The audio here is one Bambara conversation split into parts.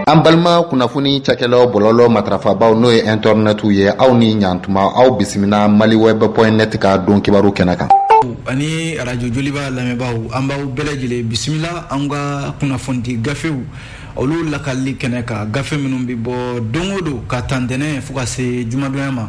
an balima kunnafoni cakɛlaw bɔlɔlɔ matarafabaaw n'o ye intɛrɛnɛtiw ye aw ni ɲantuma aw bisimila maliweb point net ka don kibaru kɛnɛ kan ani arajo joliba lamɛnbaaw an b'aw bɛɛ lajɛlen bisimila an ka kunnafonidi gafew olu lakali kɛnɛ kan gafe minnu bɛ bɔ don o don ka ta ntɛnɛn fo ka se jumadonya ma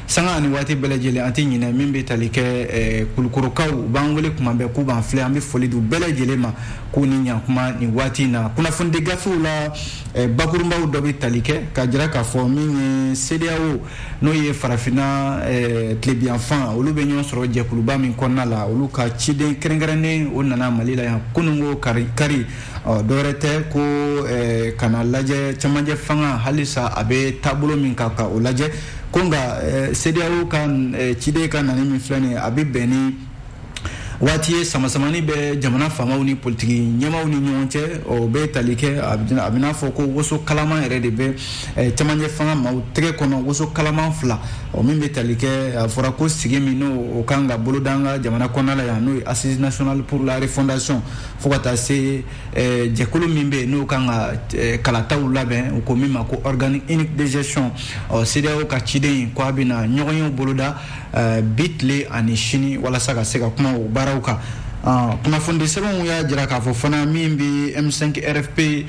sanga ani waati bɛɛ lajɛlen an tɛ ɲinɛ min bɛ tali kɛ eh, kulukorokaw u b'an wele kuma bɛɛ k'u b'an filɛ an bɛ foli di u bɛɛ lajɛlen ma k'u ni ɲankuma nin waati in na kunnafonidi gafew la eh, bakurunbaw dɔ bɛ tali kɛ ka jira k'a fɔ min ye CEDEAO n'o ye farafinna eh, tilebiyanfan olu bɛ ɲɔgɔn sɔrɔ jɛkuluba min kɔnɔna la olu ka ciden kɛrɛnkɛrɛnnen o nana mali la yan kununko kari kari ɔ dɔwɛrɛ tɛ ko ka n'a lajɛ cɛmancɛ fanga halisa a bɛ taabolo min kan ka o lajɛ ko nka eh, CEDEAO ka eh, ciden ka nani min filɛ nin ye a bɛ bɛn ni waati ye samasamani bɛ jamana faamaw ni politiki ɲɛmaaw ni ɲɔgɔn cɛ o bɛ tali kɛ a bɛ n'a fɔ ko woso kalaman yɛrɛ de bɛ eh, cɛmancɛ fanga maaw tɛgɛ kɔnɔ woso kalaman fila o min bɛ tali kɛ a fɔra ko sigi min n'o ka kan ka boloda an ka jamana kɔnɔna la yan n'o ye assise nationale pour la refondation fo ka taa se Eh, jɛkulu min bɛ yen n'o kan ka eh, kalataw labɛn u ko min ma ko organe unique de gestion ɔ CEDEAO ka ciden in ko a bɛna ɲɔgɔnyew boloda eh, bi tile ani sini walasa ka se ka kuma o baaraw kan ah, kunnafonidi sɛbɛnw y'a jira k'a fɔ fana min bɛ M5 RFP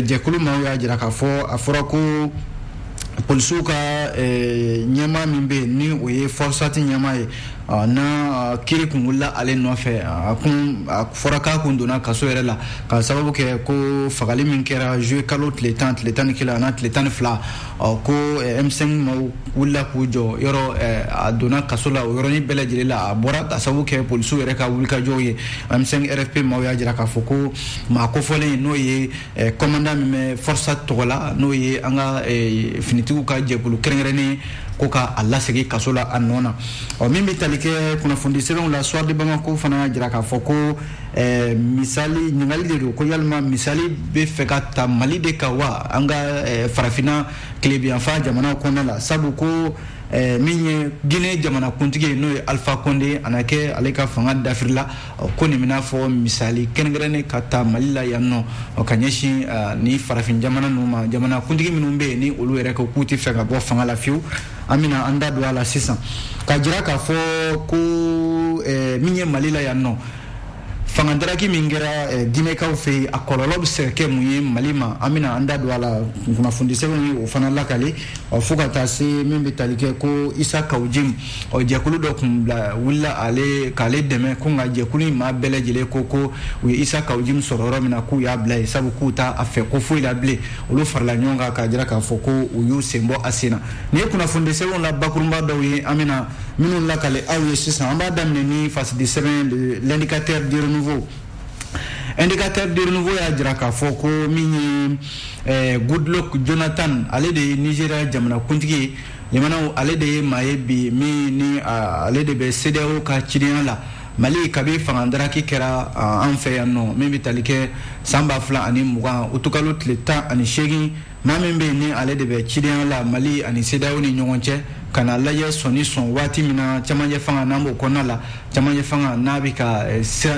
jɛkulu maaw y'a jira k'a fɔ a fɔra ko polisiw ka ɲɛmaa min bɛ yen ni o ye FORSAT ɲɛmaa ye Ɔ n'a kiri kun wulila ale nɔfɛ a kun a fɔra k'a kun donna kaso yɛrɛ la ka sababu kɛ ko fagali min kɛra juillet kalo tile tan tile tan ni kelen an'a tile tan ni fila ɔ ko M5 maaw wulila k'u jɔ yɔrɔ a donna kaso la o yɔrɔnin bɛɛ lajɛlen la a bɔra ka sababu kɛ polisiw yɛrɛ ka wulikajɔw ye M5 RFP maaw y'a jira k'a fɔ ko maa kofɔlen n'o ye Eh, kɔmanda min bɛ FORSAT tɔgɔ la n'o ye an ka eh, finitigiw ka jɛkulu kɛrɛnkɛrɛnnen ye ko ka a lasegin kaso la a nɔ na ɔ min bɛ tali kɛ kunnafoni sɛbɛnw la soir de bamako fana y'a jira k'a fɔ ko eh, misali ɲininkali de don ko yalima misali bɛ fɛ ka ta mali de kan wa an ka farafinna tilebiyanfan jamanaw kɔnɔna la sabu ko min ye guinée jamanakuntigi ye n'o ye alifa kɔnde a na kɛ ale ka fanga dafiri la ko nin bɛ n'a fɔ misali kɛrɛnkɛrɛnnen ka ta mali la yan nɔ o ka ɲɛsin ni farafin jamana ninnu ma jamana kuntigi minnu bɛ yen ni olu yɛrɛ ko k'u tɛ fɛ ka bɔ fanga la fiyewu an bɛna an da don a la sisan ka jira k'a fɔ ko min ye mali la yan nɔ fangadaraki min kɛra ginɛkaw fɛ yen a kɔlɔlɔ bɛ se ka kɛ mun ye mali ma an bɛna an da don a la kunnafonidi sɛbɛnw ye o fana lakali fo ka taa se min bɛ tali kɛ ko isa kawo jimi ɔ jɛkulu dɔ tun bila wulila ale k'ale dɛmɛ ko nka jɛkulu in maa bɛɛ lajɛlen ko ko u ye isa kawujim sɔrɔ yɔrɔ min na k'u y'a bila yen sabu k'u t'a fɛ ko foyi la bilen olu farala ɲɔgɔn kan k'a jira k'a fɔ ko u y'u sen bɔ a sen na nin ye kunnafonidi sɛbɛnw la bakurunba dɔw ye an bɛna minnu lakale aw ye sisan an b'a daminɛ ni fasidi sɛbɛn de l'indicateur du renouveau indicateur du renouveau y'a jira k'a fɔ ko min ye eh, goodluck jonathan ale de ye nigeria jamanakuntigi ye limana ale de ye maa ye bi min ni ale de bɛ cedeao ka cidenya la mali kabi fangadaraki kɛra an fɛ yan nɔ min bɛ tali kɛ san ba fila ani mugan utukalo tile tan ani seegin maa min bɛ yen ni ale de bɛ cidenya la mali ani cedeao ni ɲɔgɔn cɛ ka na lajɛ sɔnni sɔn waati min na camancɛ fanga n'an b'o kɔnɔna la camancɛ fanga n'a bɛ ka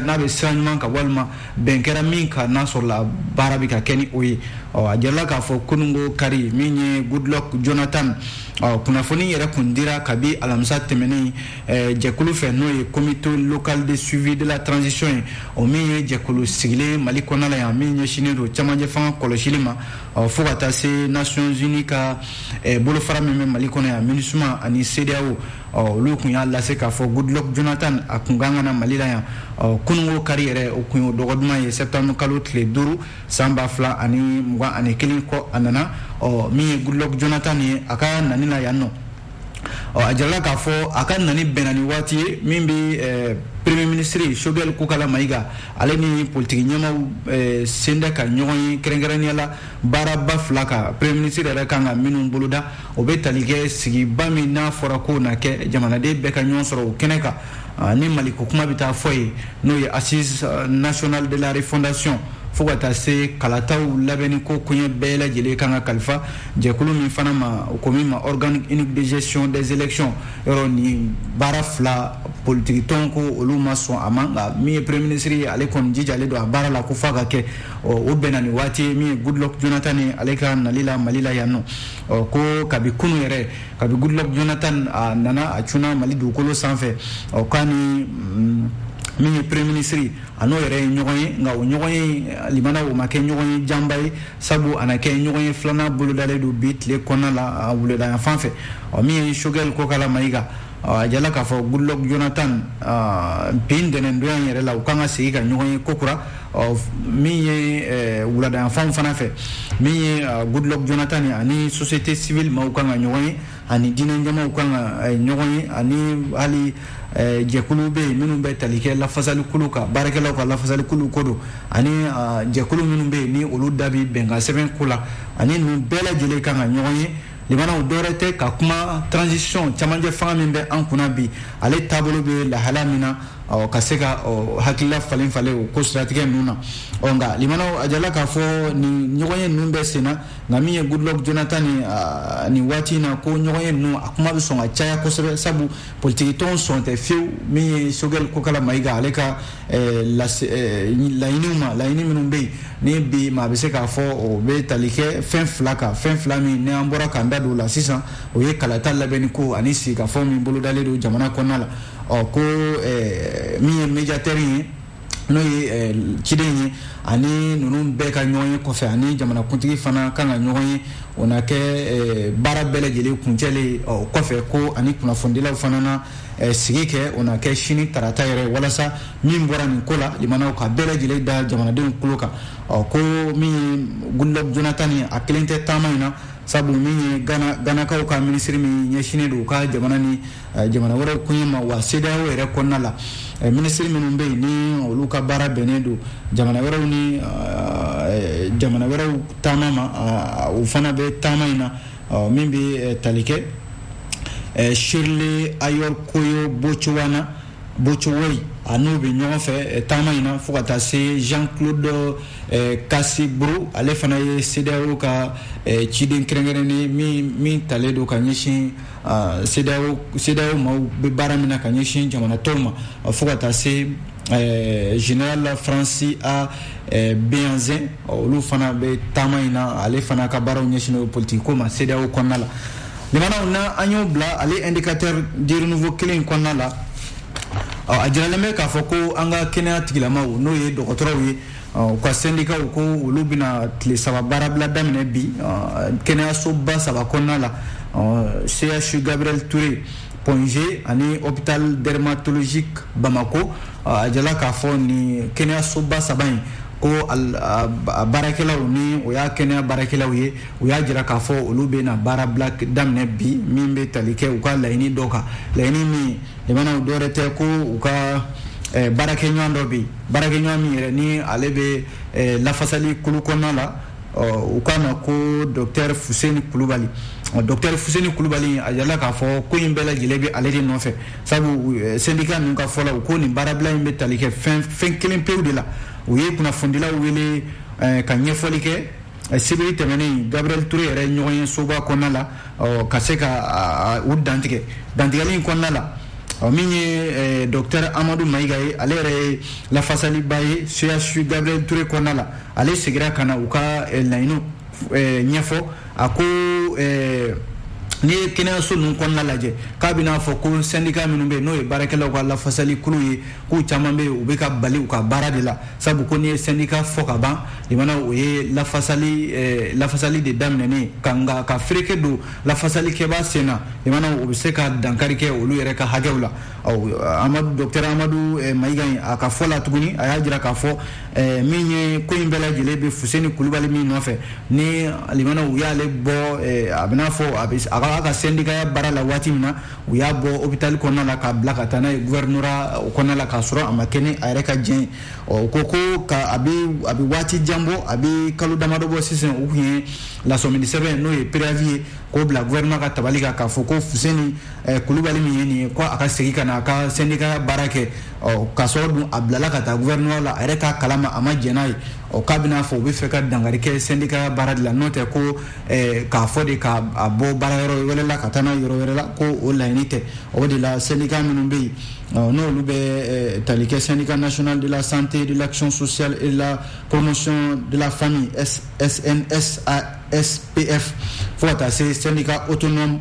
n'a bɛ sira ɲuman kan walima bɛn kɛra min kan n'a sɔrɔla baara bɛ ka kɛ ni o ye ɔ a jirala k'a fɔ kununko kari min ye goodluck jonathan ɔ kunnafoni yɛrɛ kun dira kabi alamisa tɛmɛnen eh, jɛkulu fɛ n'o ye comité local de suivi de la transition ye o min ye jɛkulu sigilen mali kɔnɔna la yan min ɲɛsinnen don cɛmancɛ fanga kɔlɔsili ma ɔ fo ka taa se nations unies ka eh, bolofara min bɛ mali kɔnɔ yan minusma ani cedeao olu tun y'a lase k'a fɔ goodluck jonathan a kun kan ka na mali la yan kununko kari yɛrɛ o kun ye dɔgɔ duman ye septembre kalo tile duuru san ba fila ani mugan ani kelen kɔ a nana min ye goodluck jonathan ye a ka nani na yan nɔ a jirala k'a fɔ a ka nani bɛnna ni waati ye min bɛ premier ministre shogɛl kokala mayiga ale ni politiki ɲɛmaaw senda ka ɲɔgɔn ye kɛrɛnkɛrɛnnenya la baaraba fila ka premier ministre yɛrɛ kan ka minnu boloda o bɛ tali kɛ sigiba min n'a fɔra k'o na kɛ jamanaden bɛɛ ka ɲɔgɔn sɔrɔ o kɛnɛ kan ah, ni maliko kuma bɛ taa fɔ yen n'o ye assises ah, nationales de la refondation fo ka taa se kalataw labɛnni ko koɲɛ bɛɛ lajɛlen kan ka kalifa jɛkulu min fana ma ko min ma organe unique de gestion des élections yɔrɔ nin baara fila politikitɔn ko olu ma sɔn a ma nka min ye premier ministre ye ale kɔni jijalen don a baara la ko f'a ka kɛ ɔ o bɛnna ni waati ye min ye goodluck jonathan ni ale ka nali la mali la yan nɔ ɔ ko kabi kunu yɛrɛ kabi goodluck jonathan a nana a cunna mali dugukolo sanfɛ ɔ k'a ni mm, min ye premier ministre a n'o yɛrɛ ye ɲɔgɔn ye nka o ɲɔgɔn ye limana o ma kɛ ɲɔgɔn ye janba ye sabu a na kɛ ɲɔgɔn ye filanan bolodalen don bi tile kɔnɔna la wuladayanfan fɛ ɔ min ye shogɛl kokala mayiga a jirala k'a fɔ goodluck jonathan bi ntɛnɛndonya in yɛrɛ la u kan ka segin ka ɲɔgɔn ye kokura min ye wuladayanfan fana fɛ min ye goodluck jonathan ani société civile maaw kan ka ɲɔgɔn ye ani diinɛ ɲɛmaaw kan ka ɲɔgɔn ye ani hali jɛkulu bɛ yen minnu bɛ tali kɛ lafasali kulu kan baarakɛlaw ka lafasali kulu ko don ani jɛkulu minnu bɛ yen ni olu da bi bɛnkan sɛbɛn ko la ani ninnu bɛɛ lajɛlen kan ka ɲɔgɔn ye limanaw dɔwɛrɛ tɛ ka kuma transition camancɛ fanga min bɛ an kunna bi ale taabolo bɛ lahala min na ɔ ka se ka ɔ hakilila falen falen o ko siratigɛ ninnu na ɔ nka limanaw a jala k'a fɔ nin ɲɔgɔnye ninnu bɛ sen na nka min ye goodluck jonathan ni ah, nin waati in na ko ɲɔgɔnye ninnu a kuma bɛ sɔn ka caya kosɛbɛ sabu politiki tɔnw sɔn tɛ fewu min ye choguel kokalla maïga ale ka Eh, eh, laɲiniw ma laɲini minnu bɛ yen ni bi maa bɛ se k'a fɔ o bɛ tali kɛ fɛn fila kan fɛn fila min ni an bɔra k'an da don o la sisan o ye kalata labɛnni ko ani sigikafɔ min bolodalen don jamana kɔnɔna la ɔ ko eh, min ye médiateur ye n'o ye ciden ye ani ninnu bɛɛ ka ɲɔgɔn ye kɔfɛ ani jamanakuntigi fana kan ka ɲɔgɔn ye o na kɛ baara bɛɛ lajɛlen kuncɛlen ɔ kɔfɛ ko ani kunnafonidilaw fana na Eh, sigi kɛ o na kɛ sini tarata yɛrɛ walasa min bɔra nin ko la limanaw ka bɛɛ lajɛlen da jamanadenw tulo kan ɔ ko min ye goodluck jonathan ye a kelen tɛ taama in na sabu min ye ganakaw ka minisiri min ɲɛsinnen don u ka jamana ni eh, jamana wɛrɛw koɲɛ ma wa cedeao yɛrɛ kɔnɔna la eh, minisiri minnu bɛ yen ni olu ka baara bɛnnen don jamana wɛrɛw ni jamana wɛrɛw taama ma u fana bɛ taama in na ɔ min bɛ tali kɛ shirley ayorkor botchwey na botchwey a n'u bɛ ɲɔgɔn fɛ taama in na fo ka taa se jean-claude kassi brou ale fana ye cedeao ka ciden kɛrɛnkɛrɛnnen min talen don ka ɲɛsin cedeao maaw bɛ baara min na ka ɲɛsin jamana tɔw ma fo ka taa se général francis a béhanzin olu fana bɛ taama in na ale fana ka baaraw ɲɛsinnen politiki ko ma cedeao kɔnɔna la limanaw na an y'o bila ale indicateur du renouveau kelen in kɔnɔna la a jiralen bɛ k'a fɔ ko an ka kɛnɛya tigilamaw n'o ye dɔgɔtɔrɔw ye u ka sendikaw ko olu bɛna tile saba baarabila daminɛ bi kɛnɛyasoba saba kɔnɔna la chu gabriel touré point g ani hôpital dermatologique bamakɔ a jala k'a fɔ nin kɛnɛyasoba saba in ko a baarakɛlaw ni o ye kɛnɛya baarakɛlaw ye u y'a jira k'a fɔ olu bɛna baarabila daminɛ bi min bɛ tali kɛ u ka laɲini dɔ kan laɲini min limanaw dɔwɛrɛ tɛ ko u ka eh, baarakɛɲɔgɔn dɔ bɛ yen baarakɛɲɔgɔn min yɛrɛ ni ale bɛ eh, lafasali kulu kɔnɔna la u k'a ma ko docteur fuseni kulubali docteur fuseni kulubali a jala k'a fɔ ko in bɛɛ lajɛlen bɛ ale de nɔfɛ sabu eh, sendika ninnu ka fɔ la u ko nin baarabila in bɛ tali kɛ fɛn kelen pewu de la u ye kunnafonidilaw wele eh, ka ɲɛfɔli kɛ eh, sibiri tɛmɛnen gabriel touré yɛrɛ ɲɔgɔnye soba kɔnɔna la ka se ka u dantigɛ dantigɛli in kɔnɔna la ɔ min ye docteur amadu mayiga ye ale yɛrɛ ye lafasaliba ye chu gabriel touré kɔnɔna la ale segira ka na u ka laɲiniw eh, ɲɛfɔ a ko eh, n'i ye kɛnɛyaso ninnu kɔnɔna lajɛ k'a bɛn'a fɔ ko sɛndika minnu bɛ yen n'o ye baarakɛlaw ka lafasali kulu ye k'u caman bɛ yen u bɛ ka bali u ka baara de la sabu ko n'i ye sɛndika fɔ ka ban limana o ye lafasali eh, lafasali de daminɛnen ka nka ka fereke don lafasalikɛbaa sen na limana o bɛ se ka dankari kɛ olu yɛrɛ ka hakɛw la amadu dɔtɛr amadu eh, mayiga a ka fɔ la tuguni a y'a jira k'a fɔ eh, min ye ko in bɛɛ lajɛlen bɛ fuseni kulubali min nɔfɛ ni limanaw u y'ale bɔ eh, a bɛn'a fɔ a b'a ka sɛndikaya baara la waati min na u y'a bɔ hopitali kɔnɔna la k'a bila ka taa n'a ye guvɛrinora o kɔnɔna la k'a sɔrɔ a ma kɛ ni a yɛrɛ ka diɲɛ ye ɔ ko ko ka a bɛ a bɛ waati jan bɔ a bɛ kalo damadɔ bɔ sisan u tun ye lasɔmini sɛbɛn n'o ye préavis ye k'o bila gouvernement ka tabali kan k'a fɔ ko fuseni Eh, kulubali min ye nin ye ko a ka segin ka na a ka sendika baara kɛ ɔ k'a sɔrɔ dun a bilala ka taa gouvernement la a yɛrɛ t'a kalama a ma jɛn n'a ye ɔ k'a bɛna fɔ u bɛ fɛ ka dankari kɛ sendika baara de la n'o tɛ ko eh, k'a fɔ de k'a bɔ baara yɔrɔ wɛrɛ la ka taa n'a yɔrɔ wɛrɛ la ko o laɲini tɛ o de la sendika minnu bɛ yen ɔ n'olu bɛ eh, tali kɛ syndicat national de la santé de l'action sociale et de la promotion de la famille SNSASPF fo ka taa se syndicat autonome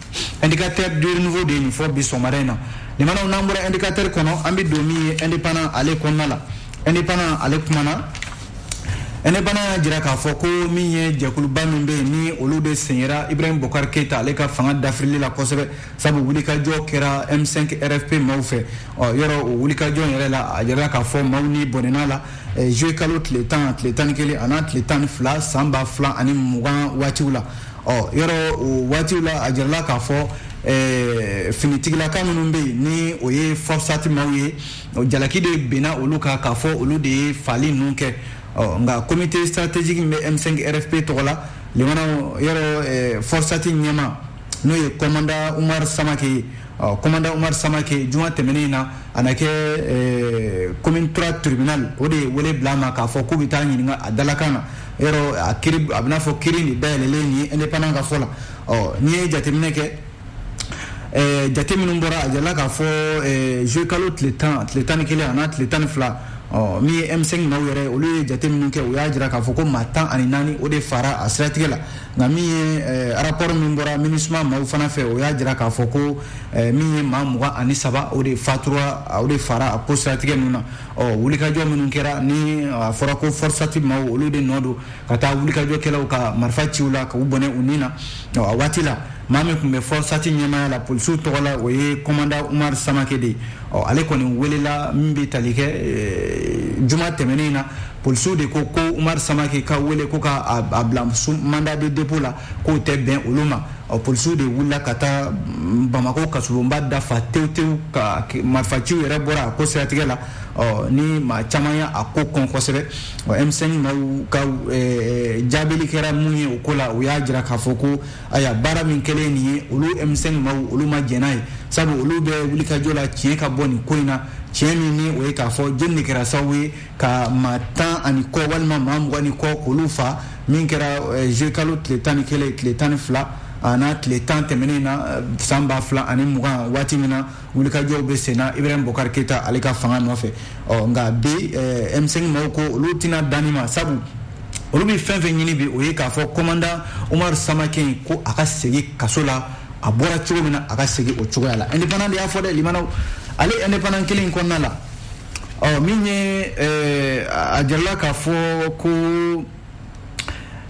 indicateur du renouveau de ye nin fɔ bi sɔgɔmada in na limanaw n'an bɔra indicateur kɔnɔ an bɛ don min ye indépendant ale kɔnɔna la indépendant ale kumana indépendant y'a jira k'a fɔ ko min ye jɛkuluba min bɛ yen ni olu de sen yera ibrahim bokar keyita ale ka fanga dafirili la kosɛbɛ sabu wulikajɔ kɛra m5 rfp maaw fɛ ɔ yɔrɔ o wulikajɔ yɛrɛ la a jirala k'a fɔ maaw ni bɔnɛna la juillet kalo tile tan tile tan ni kelen an'a tile tan ni fila san ba fila ani mugan waatiw la ɔ yɔrɔ o waatiw la a jirala k'a fɔ Eh, finitigilaka minnu bɛ yen ni o ye fɔrsati maaw ye jalaki de binna olu kan k'a fɔ olu de ye faali ninnu kɛ nka comité stratégique min bɛ m5 rfp tɔgɔ la limana yɔrɔ eh, fɔrsati ɲɛmaa n'o ye kɔmanda umar samake ye Commandant Umar Samake juma tɛmɛnen in na, a na kɛ ɛɛ commune III tribunal o de ye wele bila a ma k'a fɔ k'u bɛ t'a ɲininka a dalakan na, yɔrɔ a kiri a bɛ n'a fɔ kiri in de dayɛlɛlen nin ye indépendant ka fɔ la, ɔ n'i ye jateminɛ kɛ ɛɛ jate minnu bɔra a jirala k'a fɔ ɛɛ juillet kalo tile 10, tile 11 a n'a tile 12, ɔ min ye M5 maaw yɛrɛ ye olu ye jate minnu kɛ u y'a jira k'a fɔ ko maa 14 o de faara a siratigɛ la nka min ye eh, rapport min bɔra minusma maaw fana fɛ o y'a jira k'a fɔ ko eh, min ye maa mugan ani saba o de fatura o de faara a ko siratigɛ ninnu na ɔ wulikajɔ minnu kɛra ni a fɔra ko fɔrsati maaw olu de nɔ don ka taa wulikajɔkɛlaw ka marifa ci u la k'u bɔnɛ u ni na ɔ a waati la maa min tun bɛ fɔrsati ɲɛmaaya la polisiw tɔgɔ la o ye kɔmanda umar samake de ye ɔ ale kɔni welela min bɛ tali kɛ eh, juma tɛmɛnen na polisiw de ko ko umaru samake ka wele ko ka a bila mandat de dépôt la k'o tɛ bɛn olu ma ɔ polisiw de wulila ka taa mm, bamako kasolonba da fa tewu tewu ka marifaciw yɛrɛ bɔra a ko siratigɛ la ɔ ni maa caman y'a ko kɔn kosɛbɛ ɔ m5 maaw ka eh, jaabili kɛra mun ye o ko la u y'a jira k'a fɔ ko aya baara min kɛlen nin ye olu m5 maaw olu ma jɛn n'a ye sabu olu bɛ wulikajɔ la tiɲɛ ka bɔ nin ko in na tiɲɛ min ni o ye k'a fɔ jɔni de kɛra sababu ye ka maa tan ani kɔ walima maa mugan ni kɔ k'olu fa min kɛra eh, juillet kalo tile tan ni kelen tile tan ni fila an'a tile tan tɛmɛnen na eh, san ba fila ani mugan waati min na wulikajɔw bɛ sen na ibrahim bokari keyita ale ka fanga nɔfɛ ɔ nka bi eh, m5 maaw ko olu tɛna dan nin ma sabu olu bɛ fɛn fɛn ɲini bi o ye k'a fɔ kɔmandan umaru samake ko a ka segin kaso la a bɔra cogo min na a ka segin o cogoya la indépendant de y'a fɔ dɛ limanaw ale indépendant kelen in kɔnɔna la ɔ min ye eh, a jirala k'a fɔ ko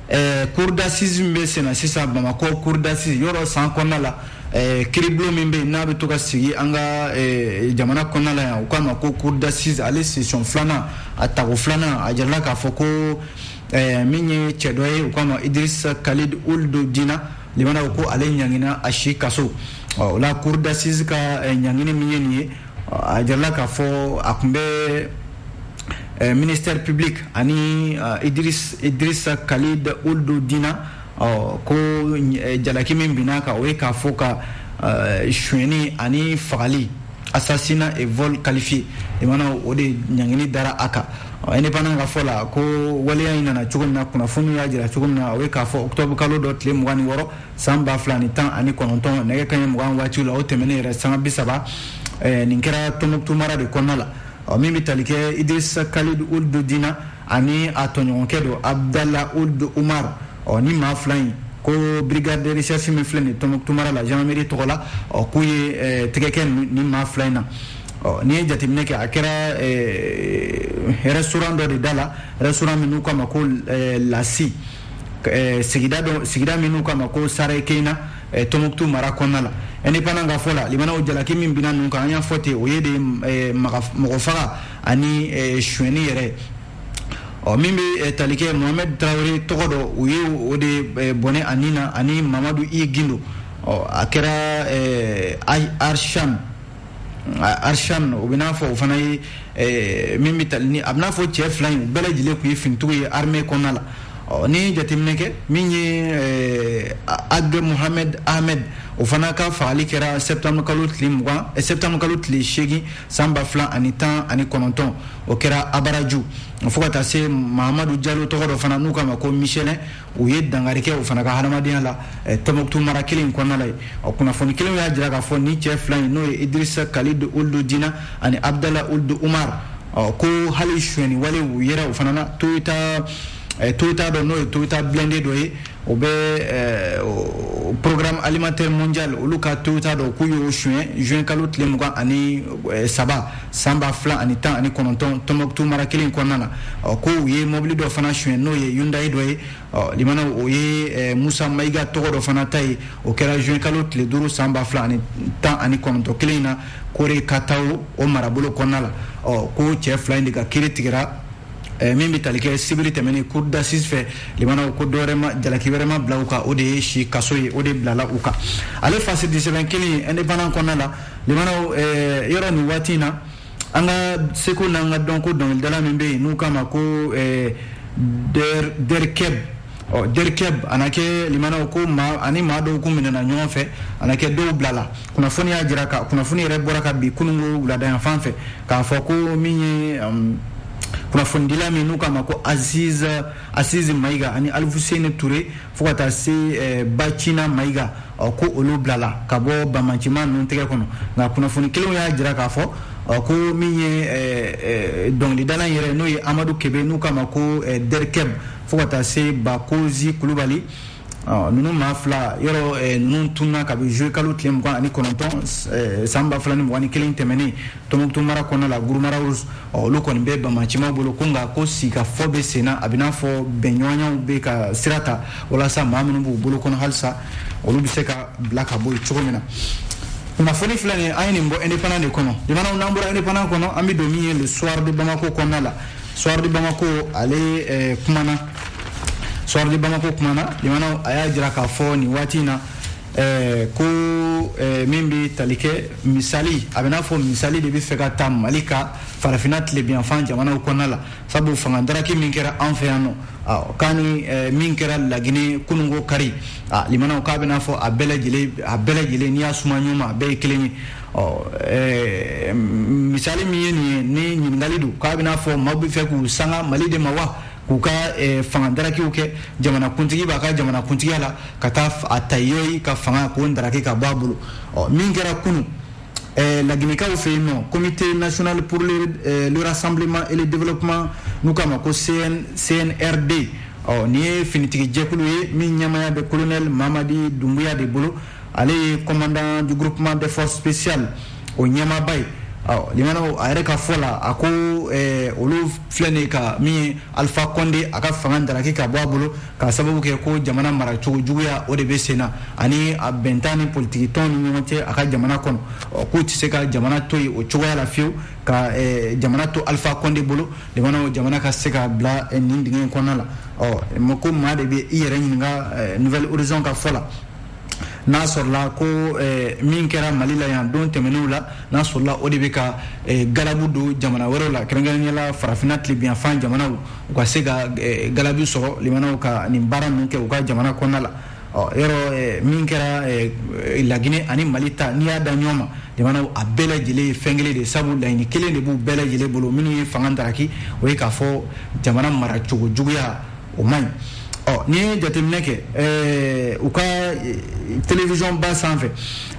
eh, cour d'assises min bɛ senna sisan bamako cour d'assises yɔrɔ san kɔnɔna la eh, kiribulon min bɛ yen n'a bɛ to ka sigi an ka jamana kɔnɔna la yan u k'a ma ko cour d'assises ale session filanan a tako filanan a jirala k'a fɔ ko min ye cɛ dɔ ye u k'a ma idirisa khalid ould dina limana ko ale ɲangina a si kaso ɔ o la cour d'assises ka ɲangini min ye nin ye a jirala k'a fɔ a tun bɛ eh, ministère public ani eh, Idriss Idrissa Khalid Ould Dina ɔ ko eh, jalaki min binn'a kan o ye k'a fɔ ka sonyɛni ani fagali assassinat et vol qualifié limana o de ɲangini dara a kan indépendant ka fɔ la ko waleya in nana cogo min na kunnafoniw y'a jira cogo min na o ye k'a fɔ octobre kalo dɔ tile mugan ni wɔɔrɔ san ba fila ni tan ani kɔnɔntɔn nɛgɛ kanɲɛ mugan waati la o tɛmɛnen yɛrɛ sanga bi saba eh, nin kɛra tɔnbukutu mara de kɔnɔna la ɔ min bɛ tali kɛ idrisa khalid ould dina ani a tɔɲɔgɔnkɛ dɔ abdala ould umar ɔ nin maa fila in ko brigade de recherche min filɛ nin tɔnbukutu mara la gendarmerie tɔgɔ la ɔ k'u ye eh, tɛgɛ kɛ nin maa fila in na ɔ n'i ye jateminɛ kɛ a kɛra eh, restaurant dɔ de da la restaurant min n'u k'a ma ko eh, lasi sigida dɔ sigida min n'u k'a ma ko sarekeyina tɔnbukutu mara kɔnɔna la indépendant ka fɔ la limanaw jalaki min binna ninnu kan an y'a fɔ ten o ye de mɔgɔ faga ani sonyɛni yɛrɛ ɔ min bɛ tali kɛ mohamɛd tarawele tɔgɔ dɔ u ye o de bɔnɛ a ni na ani mamadu i gindo ɔ a kɛra arsham arsan o bɛ n'a fɔ o fana ye eh, min bɛ tali ni a bɛ n'a fɔ cɛ fila in u bɛɛ lajɛlen tun ye finitigiw ye armée kɔnɔna la ɔ ni jateminɛ kɛ min ye eh, ag mohamed ahmed o fana ka fagali kɛra septembre kalo tile mugan eh, septembre kalo tile seegin san ba fila ani tan ani kɔnɔntɔn o kɛra abaraju fo ka taa se mahamadu jalo tɔgɔ dɔ fana n'u k'a ma ko michelin u ye dankari kɛ o fana ka hadamadenya la eh, tɔnbɔkutu mara kelen in kɔnɔna la yen o kunnafoni kelen y'a jira k'a fɔ ni cɛ fila in n'o ye idirisa kalid ould dina ani abdala ould umar ko hali suɲɛni wale u yera o fana na toyota eh, toyota dɔ n'o ye toyota blindé dɔ ye o bɛ eh, programme alimentaire mondial olu ka toyota dɔ k'u y'o suɲɛ juin kalo tile mugan ani saba san ba fila ani tan ani kɔnɔntɔn tɔnbɔkutu mara kelen kɔnɔna na ɔ ko u ye mɔbili dɔ fana suɲɛ n'o ye hyundai dɔ ye ɔ lamɛnnaw o ye eh, musa mayiga tɔgɔ dɔ fana ta ye o kɛra juin kalo tile duuru san ba fila ani tan ani kɔnɔntɔn kelen in na koyiratawo marabolo kɔnɔna la ɔ ko cɛ fila in de ka kiiri tigɛra eh, min bɛ tali kɛ sibiri tɛmɛnen cour d'assises fɛ lamɛnnaw ko dɔwɛrɛ ma jalaki wɛrɛ ma bila u kan o de ye si kaso ye o de bilala u kan ale fasidisɛbɛn kelen indépendant kɔnɔna la lamɛnnaw eh, yɔrɔ nin waati in na an ka seko n'an ka dɔnko dɔnkilidala min bɛ yen n'u k'a ma ko eh, dr keb ɔ dr keb a na kɛ lamɛnnaw ko maa ani maa dɔw kun minɛna ɲɔgɔn fɛ a na kɛ dɔw bilala kunnafoni y'a jira ka kunnafoni yɛrɛ bɔra kabi kununko wuladayanfan fɛ k'a fɔ ko min ye um, kunnafonidila min n'u k'a ma ko aziz asiz mayiga ani alifuseni ture fo ka taa se eh, bacina mayiga ko olu bilala ka bɔ banbaanci maa ninnu tɛgɛ kɔnɔ nka kunnafoni kelenw y'a jira k'a fɔ ko min ye eh, eh, dɔnkilidala yɛrɛ n'o ye amadu kebe n'u k'a ma ko dr keb fo ka taa se bakozi kulubali ninnu maa fila yɔrɔ ninnu tunna kabi juillet kalo tile mugan ani kɔnɔntɔn san ba fila ni mugan ni kelen tɛmɛnen Tɔnbukutu mara kɔnɔna la Gourma Rharous ɔ olu kɔni bɛ banbaanci maaw bolo ko nka ko sigikafɔ bɛ sen na a bɛ n'a fɔ bɛnɲɔgɔnyaw bɛ ka sira ta walasa maa minnu b'u bolo kɔnɔ halisa olu bɛ se ka bila ka bɔ yen cogo min na kunnafoni filɛ nin ye an ye nin bɔ indépendant de kɔnɔ lamɛnnaw n'an bɔra indépendant kɔnɔ an bɛ don min ye le soir de Bamako kɔnɔna la soir de Bamako ale eh, kumana soir de Bamako kumana lamɛnnaw a y'a jira k'a fɔ nin waati in na ɛɛ ko ɛɛ min bɛ tali kɛ misali a bɛ n'a fɔ misali de bɛ fɛ ka ta mali ka farafinna tilebinyanfan jamanaw kɔnɔna la sabu fanga daraki min kɛra an fɛ yan nɔ k'a ni ɛɛ min kɛra lagine kununko kari a lamɛnnaw k'a bɛ n'a fɔ a bɛɛ lajɛlen a bɛɛ lajɛlen n'i y'a suma ɲɔgɔn ma a bɛɛ ye kelen ye ɔ ɛɛ misali min ye nin ye ni ɲininkali don k'a bɛ n'a fɔ maaw bɛ fɛ k'u sanga mali de ma wa k'u ka eh, fanga darakiw kɛ jamanakuntigi b'a ka jamanakuntigiya la ka taa a ta ye ka fanga k'o daraki ka bɔ a bolo ɔ min kɛra kunu eh, laginɛkaw fɛ yen nɔ comité national pour le, eh, le rassemblement et le développement n'u k'a ma ko CN, cnrd ɔ nin ye finitigi jɛkulu ye min ɲɛmaaya bɛ colonel mamadi dunbuya de bolo ale ye commandant du groupement des forces spéciales o ɲɛmaaba ye limanaw a yɛrɛ ka fɔ la a ko eh, olu filɛ nin ka min ye alpha konde a ka fanga daraki ka bɔ a bolo ka sababu kɛ ko jamana maracogo juguya o de bɛ sen na ani a bɛntan ni politiki tɔn ni ɲɔgɔn cɛ a ka jamana kɔnɔ k'u tɛ se ka jamana to yen o cogoya la fiyewu ka eh, jamana to alpha konde bolo limanaw jamana ka se ka bila eh, nin dingɛ in kɔnɔna la ɔ ko maa de bɛ i yɛrɛ ɲininka nouvel horizon ka fɔ la n'a sɔrɔla ko eh, min kɛra mali la yan don tɛmɛnenw la n'a sɔrɔla o de bɛ ka eh, galabu don jamana wɛrɛw la kɛrɛnkɛrɛnnenya la farafinna tilebiyanfan jamanaw u ka se ka eh, galabu sɔrɔ limanaw ka nin baara ninnu kɛ u ka jamana kɔnɔna la yɔrɔ min kɛra laginɛ ani mali ta n'i y'a da ɲɔgɔn ma limanaw a bɛɛ lajɛlen ye fɛn kelen de sabu laɲini kelen de b'u bɛɛ lajɛlen bolo minnu ye fanga daraki o ye k'a fɔ jamana maracogo juguya o man ɲi ɔ n'i ye jateminɛ kɛ ɛɛ u ka télévision ba sanfɛ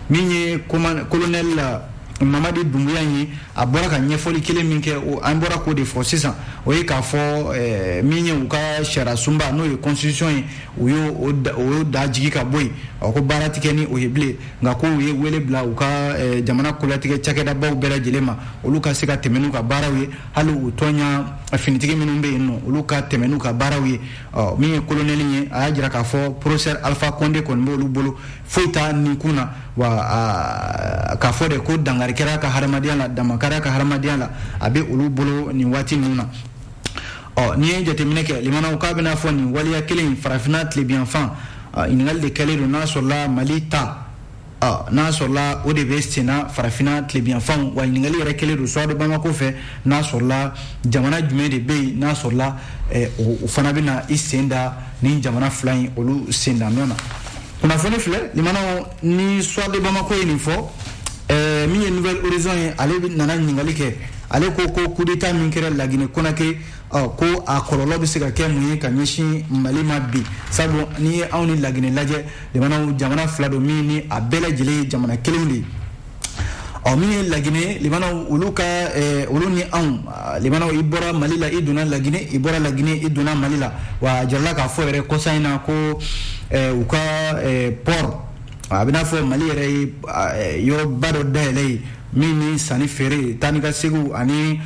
min ye colonel mamadi dunbuya ye a bɔra ka ɲɛfɔli kelen min kɛ o an bɔra k'o de fɔ sisan o ye k'a fɔ min ye u ka sariyasunba n'o ye constitution ye u y'o o y'o dajigi ka bɔ yen ɔ ko baara tɛ kɛ ni o ye bilen nka ko u ye wele bila u ka jamana kolatigɛ cakɛdabaw bɛɛ lajɛlen ma olu ka se ka tɛmɛ n'u ka baaraw ye hali u tɔɲa finitigi minnu bɛ yen nɔ olu ka tɛmɛ n'u ka baaraw ye min ye kolonɛli ye a y'a jira k'a fɔ professeur alpha konde kɔni b'olu bolo foyi t'a nin kun na wa k'a fɔ de ko dankari kɛr'a ka hadamadenya la dan ma kar'a ka hadamadenya la a bɛ olu bolo nin waati ninnu na ɔ n'i ye jateminɛ kɛ limanaw k'a bɛ n'a fɔ nin waleya kelen farafinna tilebiyanfan ɲininkali de kɛlen don n'a sɔrɔla mali ta n'a sɔrɔla o de bɛ senna farafinna tilebiyanfan wa ɲininkali yɛrɛ kɛlen don soir de bamako fɛ n'a sɔrɔla jamana jumɛn de bɛ yen n'a sɔrɔla eh, o fana bɛna i sen da nin jamana fila in olu sen da nɔ na kunnafoni filɛ limanaw ni soir de bamako ye nin fɔ eh, min ye nouvel horizon ye ale nana ɲininkali kɛ ale ko ko kudeta min kɛra laginɛ konakiri ɔ ko a kɔlɔlɔ bɛ se ka kɛ mun ye ka ɲɛsin mali ma bi sabu n'i ye anw ni laginɛ lajɛ limanaw jamana fila don min ni a bɛɛ lajɛlen ye jamana kelen de ye ɔ min ye laginɛ limanaw olu ka eh, olu ni anw ah, limanaw i bɔra mali la i donna laginɛ i bɔra laginɛ i donna mali la wa a jirala k'a fɔ yɛrɛ kɔsa in na ko eh, u ka eh, port a bɛ n'a fɔ mali yɛrɛ ye ah, eh, yɔrɔba dɔ dayɛlɛ yen min ni sanni feere taa ni ka seginw ani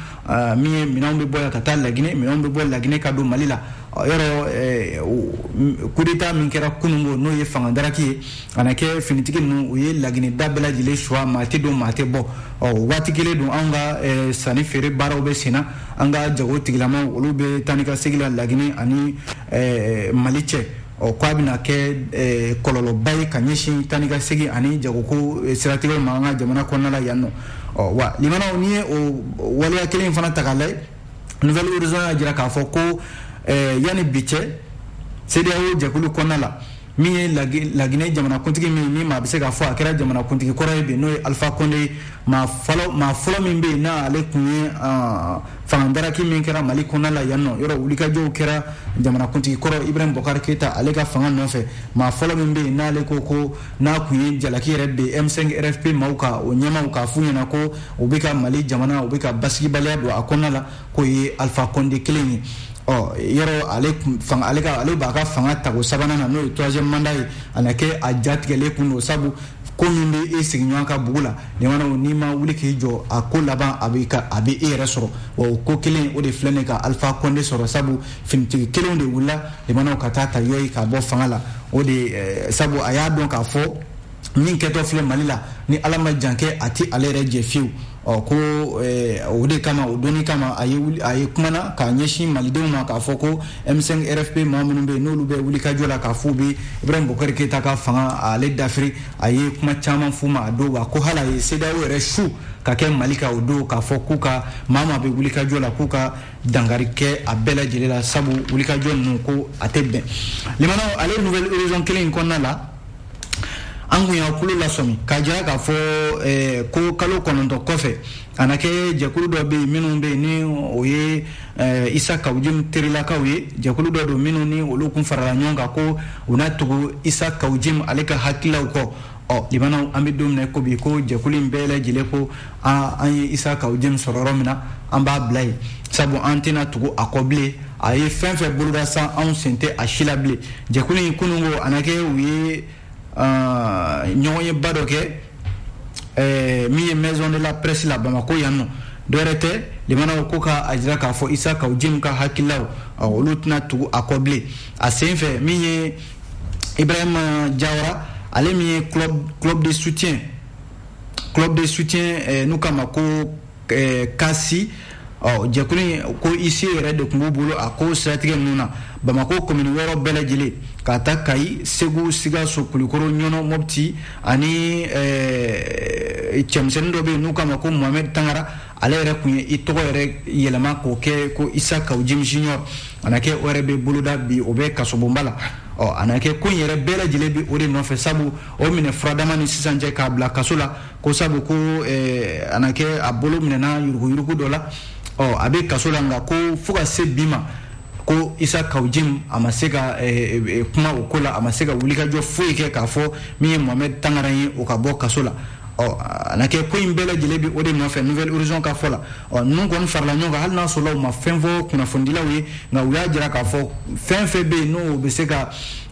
min ye minɛnw bɛ bɔ yan ka taa laginɛ minɛnw bɛ bɔ laginɛ ka don mali la yɔrɔ kudeta min kɛra kununko n'o ye fangadaraki ye a na kɛ finitigi ninnu u ye laginɛ da bɛɛ lajɛlen suwa maa tɛ don maa tɛ bɔ ɔ waati kelen don an ka sanni feere baaraw bɛ senna an ka jago tigilamaw olu bɛ taa ni ka segin la laginɛ ani mali cɛ ɔ ko a bɛna kɛ eh, kɔlɔlɔba ye ka ɲɛsin taa ni ka segin ani jagoko eh, siratigɛw ma an ka jamana kɔnɔna la yan nɔ ɔ wa limanaw n'i ye o waleya kelen in fana ta k'a lajɛ nouvel horizon y'a jira k'a fɔ ko eh, yanni bi cɛ CEDEAO jɛkulu kɔnɔna la min ye Laginɛ jamanakuntigi min ni maa bɛ se k'a fɔ a kɛra jamanakuntigi kɔrɔ ye bi n'o ye Alpha Condé ye maa fɔlɔ min bɛ yen n'ale kun ye fangadaraki min kɛra mali kɔnɔna la yan nɔ yɔrɔ wulikajɔw kɛra jamanakuntigi kɔrɔ Ibrahim Boubacar Keïta ale ka fanga nɔfɛ maa fɔlɔ min bɛ yen n'ale ko ko n'a kun ye jalaki yɛrɛ bin m5 rfp maaw kan o ɲɛmaaw k'a f'u ɲɛna ko u bɛ ka mali jamana u bɛ ka basigibaliya don a kɔnɔna la k'o ye Alpha Condé kelen ye ɔ yɔrɔ ale ale b'a ka fanga tago sabanan na n'o ye troisième mandat ye a na kɛ a jatigɛlen kun don sabu ko min bɛ e sigiɲɔgɔn ka bugu la limanaw n'i ma wuli k'i jɔ a ko laban a bɛ a bɛ e yɛrɛ sɔrɔ wa o ko kelen o de filɛ nin ka Alpha Condé sɔrɔ sabu finitigi kelenw de wulila limanaw ka taa ta yɔyi k'a bɔ fanga la o de eh, sabu a y'a dɔn k'a fɔ min kɛtɔ filɛ mali la ni ala ma jankɛ a tɛ ale yɛrɛ jɛ fiyewu ɔ ko eh, o de kama o doni kama a ye a ye kumana k'a ɲɛsin malidenw ma k'a fɔ ko m5 rfp maa minnu bɛ n'olu bɛ wulikajɔ la k'a f'u bɛ Ibrahim Boubacar Keïta ka fanga ale dafiri a ye kuma caman f'u ma a don wa ko hali a ye CEDEAO yɛrɛ su ka kɛ mali kan o don k'a fɔ k'u ka maa maa bɛ wulikajɔ la k'u ka dankari kɛ a bɛɛ lajɛlen la sabu wulikajɔ ninnu ko a tɛ bɛn limanaw ale nouvel horizon kelen in kɔnɔna la an kun y'a kulo lasɔmi k'a jira k'a fɔ eh, ko kalo kɔnɔntɔn kɔfɛ a na kɛ jɛkulu dɔ bɛ yen minnu bɛ yen ni o ye eh, isa kawujim terilakaw ye jɛkulu dɔ don minnu ni olu kun farala ɲɔgɔn kan ko u na tugu isa kawujim ale ka hakililaw kɔ ɔ limanaw an bɛ don min na ko bi ko jɛkulu in bɛɛ lajɛlen ko aa an ye isa kawujim sɔrɔ yɔrɔ min na an b'a bila yen sabu an tɛna tugu a kɔ bilen a ye fɛn fɛn boloda san anw sen tɛ a si la bilen jɛkulu in kununko a na kɛ u ye ɲɔgɔnyeba dɔ kɛ min ye maison de la presse la bamako yan nɔ dɔwɛrɛ tɛ limanaw ko k'a jira k'a fɔ isa kawujim ka hakililaw olu tɛna tugu a kɔ bilen a sen fɛ min ye ibrahima jawara ale min ye club de soutien club de soutien eh, n'u k'a ma ko eh, kasi ɔ jɛkulu in ko ise yɛrɛ de tun b'u bolo a ko siratigɛ ninnu na bamako komini wɔɔrɔ bɛɛ lajɛlen ka ta kayi segu sikaso kulikoro ɲɔnɔ mɔpti ani eh, cɛmisɛnnin dɔ bɛ yen n'u k'a ma ko mohamɛd tangara ale yɛrɛ tun ye i tɔgɔ yɛrɛ yɛlɛma k'o kɛ ko isa kawu jim junior a na kɛ o yɛrɛ bɛ boloda bi o bɛ kasobonba la ɔ a na kɛ ko in yɛrɛ bɛɛ lajɛlen bɛ o de nɔfɛ sabu o minɛ furadama ni sisan cɛ k'a bila kaso la ko sabu ko eh, a na kɛ a bolo minɛna yuruguyurugu dɔ la ɔ a bɛ kaso la nka ko fo ka se bi ma ko isa kawu jim a ma se ka eh, eh, kuma o ko la a ma se ka wulikajɔ foyi kɛ k'a fɔ min ye mohamɛd tangara ye o ka bɔ kaso la ɔ a na kɛ ko in bɛɛ lajɛlen bɛ o de nɔfɛ nouvel horizon ka fɔ la ɔ ninnu kɔni farala ɲɔgɔn kan hali n'a sɔrɔla u ma fɛn fɔ kunnafonidilaw ye nka u y'a jira k'a fɔ fɛn fɛn bɛ yen n'o bɛ se ka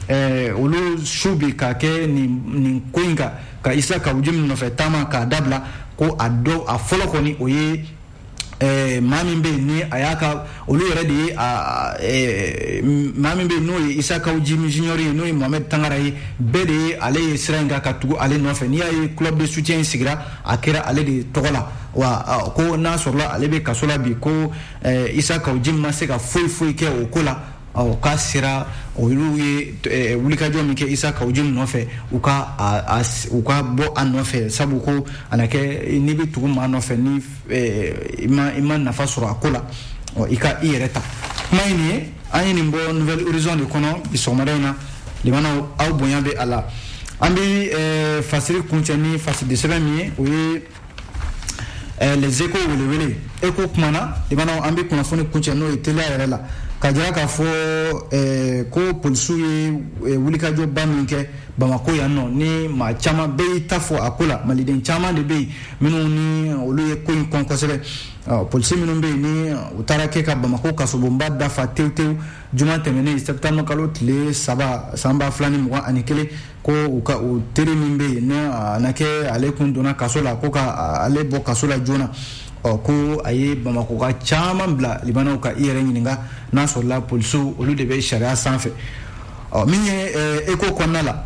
ɛɛ olu su bi ka kɛ nin ko in kan ka isa kawu jim nɔfɛ taama k'a dabila ko a dɔ a fɔlɔ kɔni o ye Eh, maa min bɛ yen ni a y'a ka olu yɛrɛ de ye eh, maa min bɛ yen n'o ye isa kawu jim junior ye n'o ye mohamɛd tangara ye bɛɛ de ye ale ye sira in kan ka tugu ale nɔfɛ n'i y'a ye club de soutien in sigira a kɛra ale de tɔgɔ la wa ko n'a sɔrɔla ale bɛ kaso la bi ko eh, isa kawu jim ma se ka foyi foyi kɛ o ko la ɔ k'a sera olu ye eh, wulikajɔ min kɛ isa kawu jim nɔfɛ u ka u ka bɔ a nɔfɛ sabu ko a na kɛ n'i bɛ tugu maa nɔfɛ ni eh, i ma i ma nafa sɔrɔ a ko la ɔ i ka i yɛrɛ ta kuma ye nin ye an ye nin bɔ nouvel horizon de kɔnɔ bi sɔgɔmada in na lamɛnnaw aw bonya bɛ a la an bɛ eh, fasiri kuncɛ ni fasirisɛbɛn min ye o ye eh, les échos welewele eko kumana lamɛnnaw an bɛ kunnafoni kuncɛ n'o ye teliya yɛrɛ la ka jira k'a fɔ eh, ko polisiw ye eh, wulikajɔba min kɛ bamako yan nɔ ni maa caman bɛɛ y'i ta fɔ a ko la maliden caman de bɛ yen minnu ni olu ye ko in kɔn kosɛbɛ polisi minnu bɛ yen ni u taara kɛ ka bamako kasobonba da fa tewu tewu juma tɛmɛnen sɛptanburu kalo tile saba san ba fila ni mugan ani kelen ko u ka u teri min bɛ yen n'a na kɛ ale kun donna kaso la ko ka ale bɔ kaso la joona ɔ ko a ye bamakoka caman bila lamɛnnaw ka i yɛrɛ ɲininka n'a sɔrɔla polisiw olu de bɛ sariya sanfɛ ɔ min ye eh, eko kɔnɔna la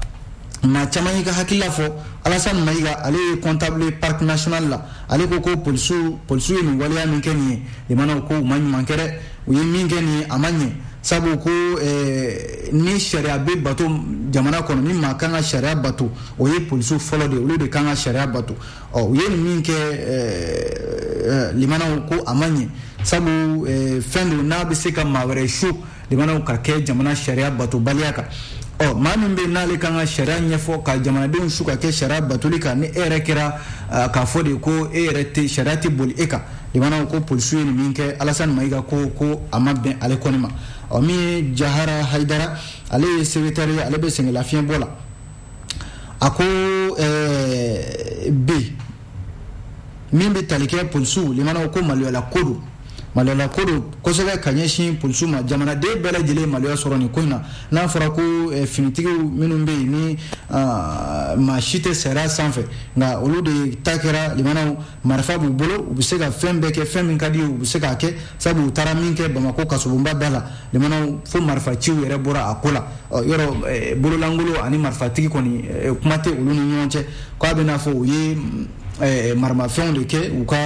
maa caman y'i ka hakilila fɔ alasan mayiga ale ye comptable parc national la ale ko ko polisiw polisiw ye nin waleya min kɛ nin ye lamɛnnaw ko u ma ɲuman kɛ dɛ u ye min kɛ nin a ma ɲɛ sabu ko eh, ni sariya bɛ bato jamana kɔnɔ ni maa kan ka sariya bato o ye polisiw fɔlɔ de olu de kan ka sariya bato ɔ u ye min kɛ eh, eh, limana ko a ma ɲɛ sabu fɛn don n'a bɛ se ka maa wɛrɛ su limana ka kɛ jamana sariya batobaliya kan ɔ maa min bɛ n'ale kan ka sariya ɲɛfɔ ka jamanadenw su ka kɛ sariya batoli kan ni e yɛrɛ kɛra k'a fɔ de ko e yɛrɛ tɛ sariya tɛ boli e kan imana ko polisiw ye nin min kɛ alasani mayiga ko ko a ma bɛn ale kɔni ma ɔ min ye jahara hayidara ale ye sekretɛri ye ale bɛ sɛgɛnlafiɲɛbɔ la a ko eh, bi min bɛ tali kɛ polisiw limana ko maloyala ko don maloyala ko don kosɛbɛ ka ɲɛsin polisiw ma jamanaden bɛɛ lajɛlen maloya sɔrɔ nin ko in na n'a fɔra ko eh, finitigiw minnu bɛ yen ni ah, maa si tɛ sariya sanfɛ nka olu de ta kɛra limana marifa b'u bolo u bɛ se ka fɛn bɛɛ kɛ fɛn min ka di u ye u bɛ se k'a kɛ sabu u taara min kɛ bamakɔ kasobonba da la limana fo marifa ciw yɛrɛ bɔra a ko la ɔ yɔrɔ eh, bololankolon ani marifatigi kɔni eh, kuma tɛ olu ni ɲɔgɔn cɛ k'a bɛ n'a fɔ u ye eh, maramafɛnw de kɛ u ka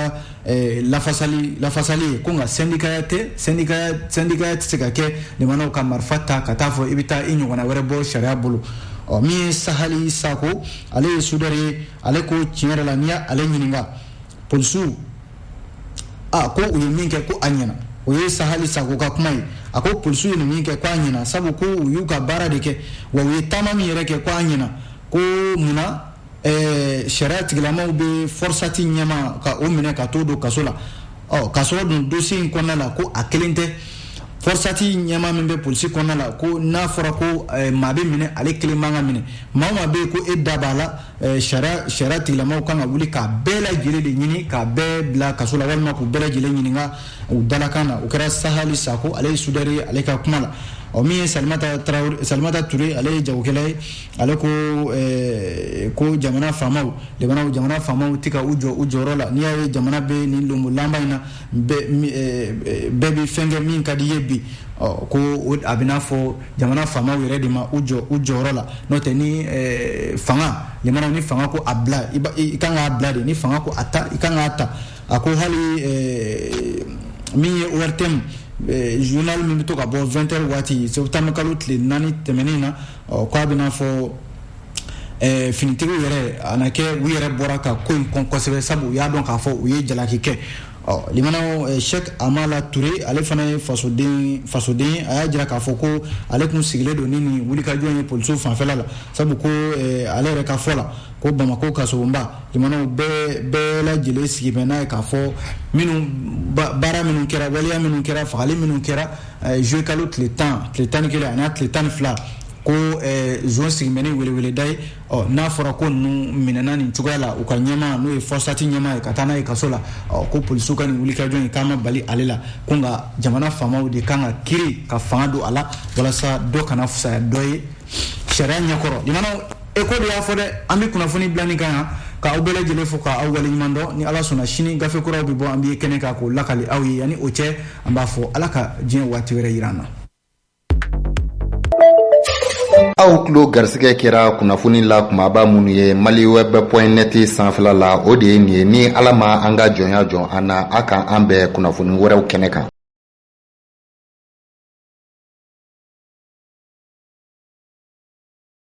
eh, lafasali lafasali ye ko nka sɛndikaya tɛ sɛndikaya sɛndikaya tɛ se ka kɛ limana ka marifa ta ka taa fɔ i bɛ taa i ɲɔgɔnna wɛrɛ bɔ sariya bolo ɔ min ye sahali sako ale ye sudɛri ye ale ko tiɲɛ yɛrɛ la n'i ye ale ɲininka polisiw a ko u ye min kɛ ko a ɲɛna o ye sahali sako ka kuma ye a ko polisiw ye nin min kɛ ko a ɲɛna sabu ko u y'u ka baara de kɛ wa u ye taama min yɛrɛ kɛ ko a ɲɛna ko munna ɛɛ sariya tigilamaw bɛ fɔrsati ɲɛmaa ka o minɛ ka t'o don kaso la ɔ ka sɔrɔ dun dosi in kɔnɔna la ko a kelen tɛ fɔrsati ɲɛmaa min bɛ polisi kɔnɔna la ko n'a fɔra ko eh, maa bɛ minɛ ale kelen man ka minɛ maa o maa bɛ yen ko e da b'a la eh, sariya sariya tigilamaw kan ka wuli k'a bɛɛ lajɛlen de ɲini k'a bɛɛ bila kaso la walima k'u bɛɛ lajɛlen ɲininka u dalakan na o kɛra sahali sako ale ye sudɛri ye ale ka kuma la ɔ min ye salimata tarawele salimata ture ale ye jagokɛla ye ale ko eh, ko jamana faamaw limana jamana faamaw tɛ ka u jɔ u jɔyɔrɔ la n'i y'a ye jamana bɛ nin lonbolanba in na bɛɛ eh, eh, bɛ fɛn kɛ min ka d'i ye bi ko a bɛ n'a fɔ jamana faamaw yɛrɛ de ma u jɔ u jɔyɔrɔ la n'o tɛ ni fanga limana ni fanga ko a bila i kan k'a bila de ni fanga ko a ta i kan k'a ta a ko hali min ye ORTM journal min bɛ to ka bɔ 20 heures waati septembre kalo tile naani tɛmɛnen na ɔ k'a bɛna fɔ eh, finitigiw yɛrɛ a na kɛ u yɛrɛ bɔra ka ko in kɔn kosɛbɛ sabu u y'a dɔn k'a fɔ u ye jalaki kɛ ɔ limanaw eh, shek amala ture ale fana ye fasoden fasoden a y'a jira k'a fɔ ko ale tun sigilen don ni nin wulikajɔ ye polisiw fanfɛla la sabu ko eh, ale yɛrɛ ka fɔ la ko bamako kasobonba limanaw bɛɛ bɛɛ lajɛlen sigi bɛ n'a ye k'a fɔ minnu baara minnu kɛra waleya minnu kɛra fagali minnu kɛra zuye kalo tile tan tile tan ni kelen a n'a tile tan ni fila ko eh, zon sigimɛ ni weleweleda ye ɔ n'a fɔra ko ninnu minɛna nin cogoya la u ka ɲɛmaa n'o ye fɔsati ɲɛmaa ye ka taa n'a ye kaso la ɔ ko polisiw ka nin wulikajɔ in k'a ma bali ale la ko nka jamana faamaw de kan ka kiiri ka fanga don a la walasa dɔ kana fusaya dɔ ye sariya ɲɛkɔrɔ limanaw e ko de y'a fɔ dɛ an bɛ kunnafoni bila nin kan yan ka aw bɛɛ lajɛlen fo ka aw waleɲuman dɔn ni ala sɔnna sini gafe kuraw bɛ bɔ an bɛ kɛnɛ kan k'o lakali aw ye yanni o cɛ an b'a fɔ ala ka diɲɛ waati wɛrɛ yira an na aw tulo garisigɛ kɛra kunnafoni la kunbaba minnu ye mali wɛbɛ pɔin nɛti sanfɛla la o de ye nin ye ni ala ma an ka jɔnya jɔn an na a ka an bɛn kunnafoni wɛrɛw kɛnɛ kan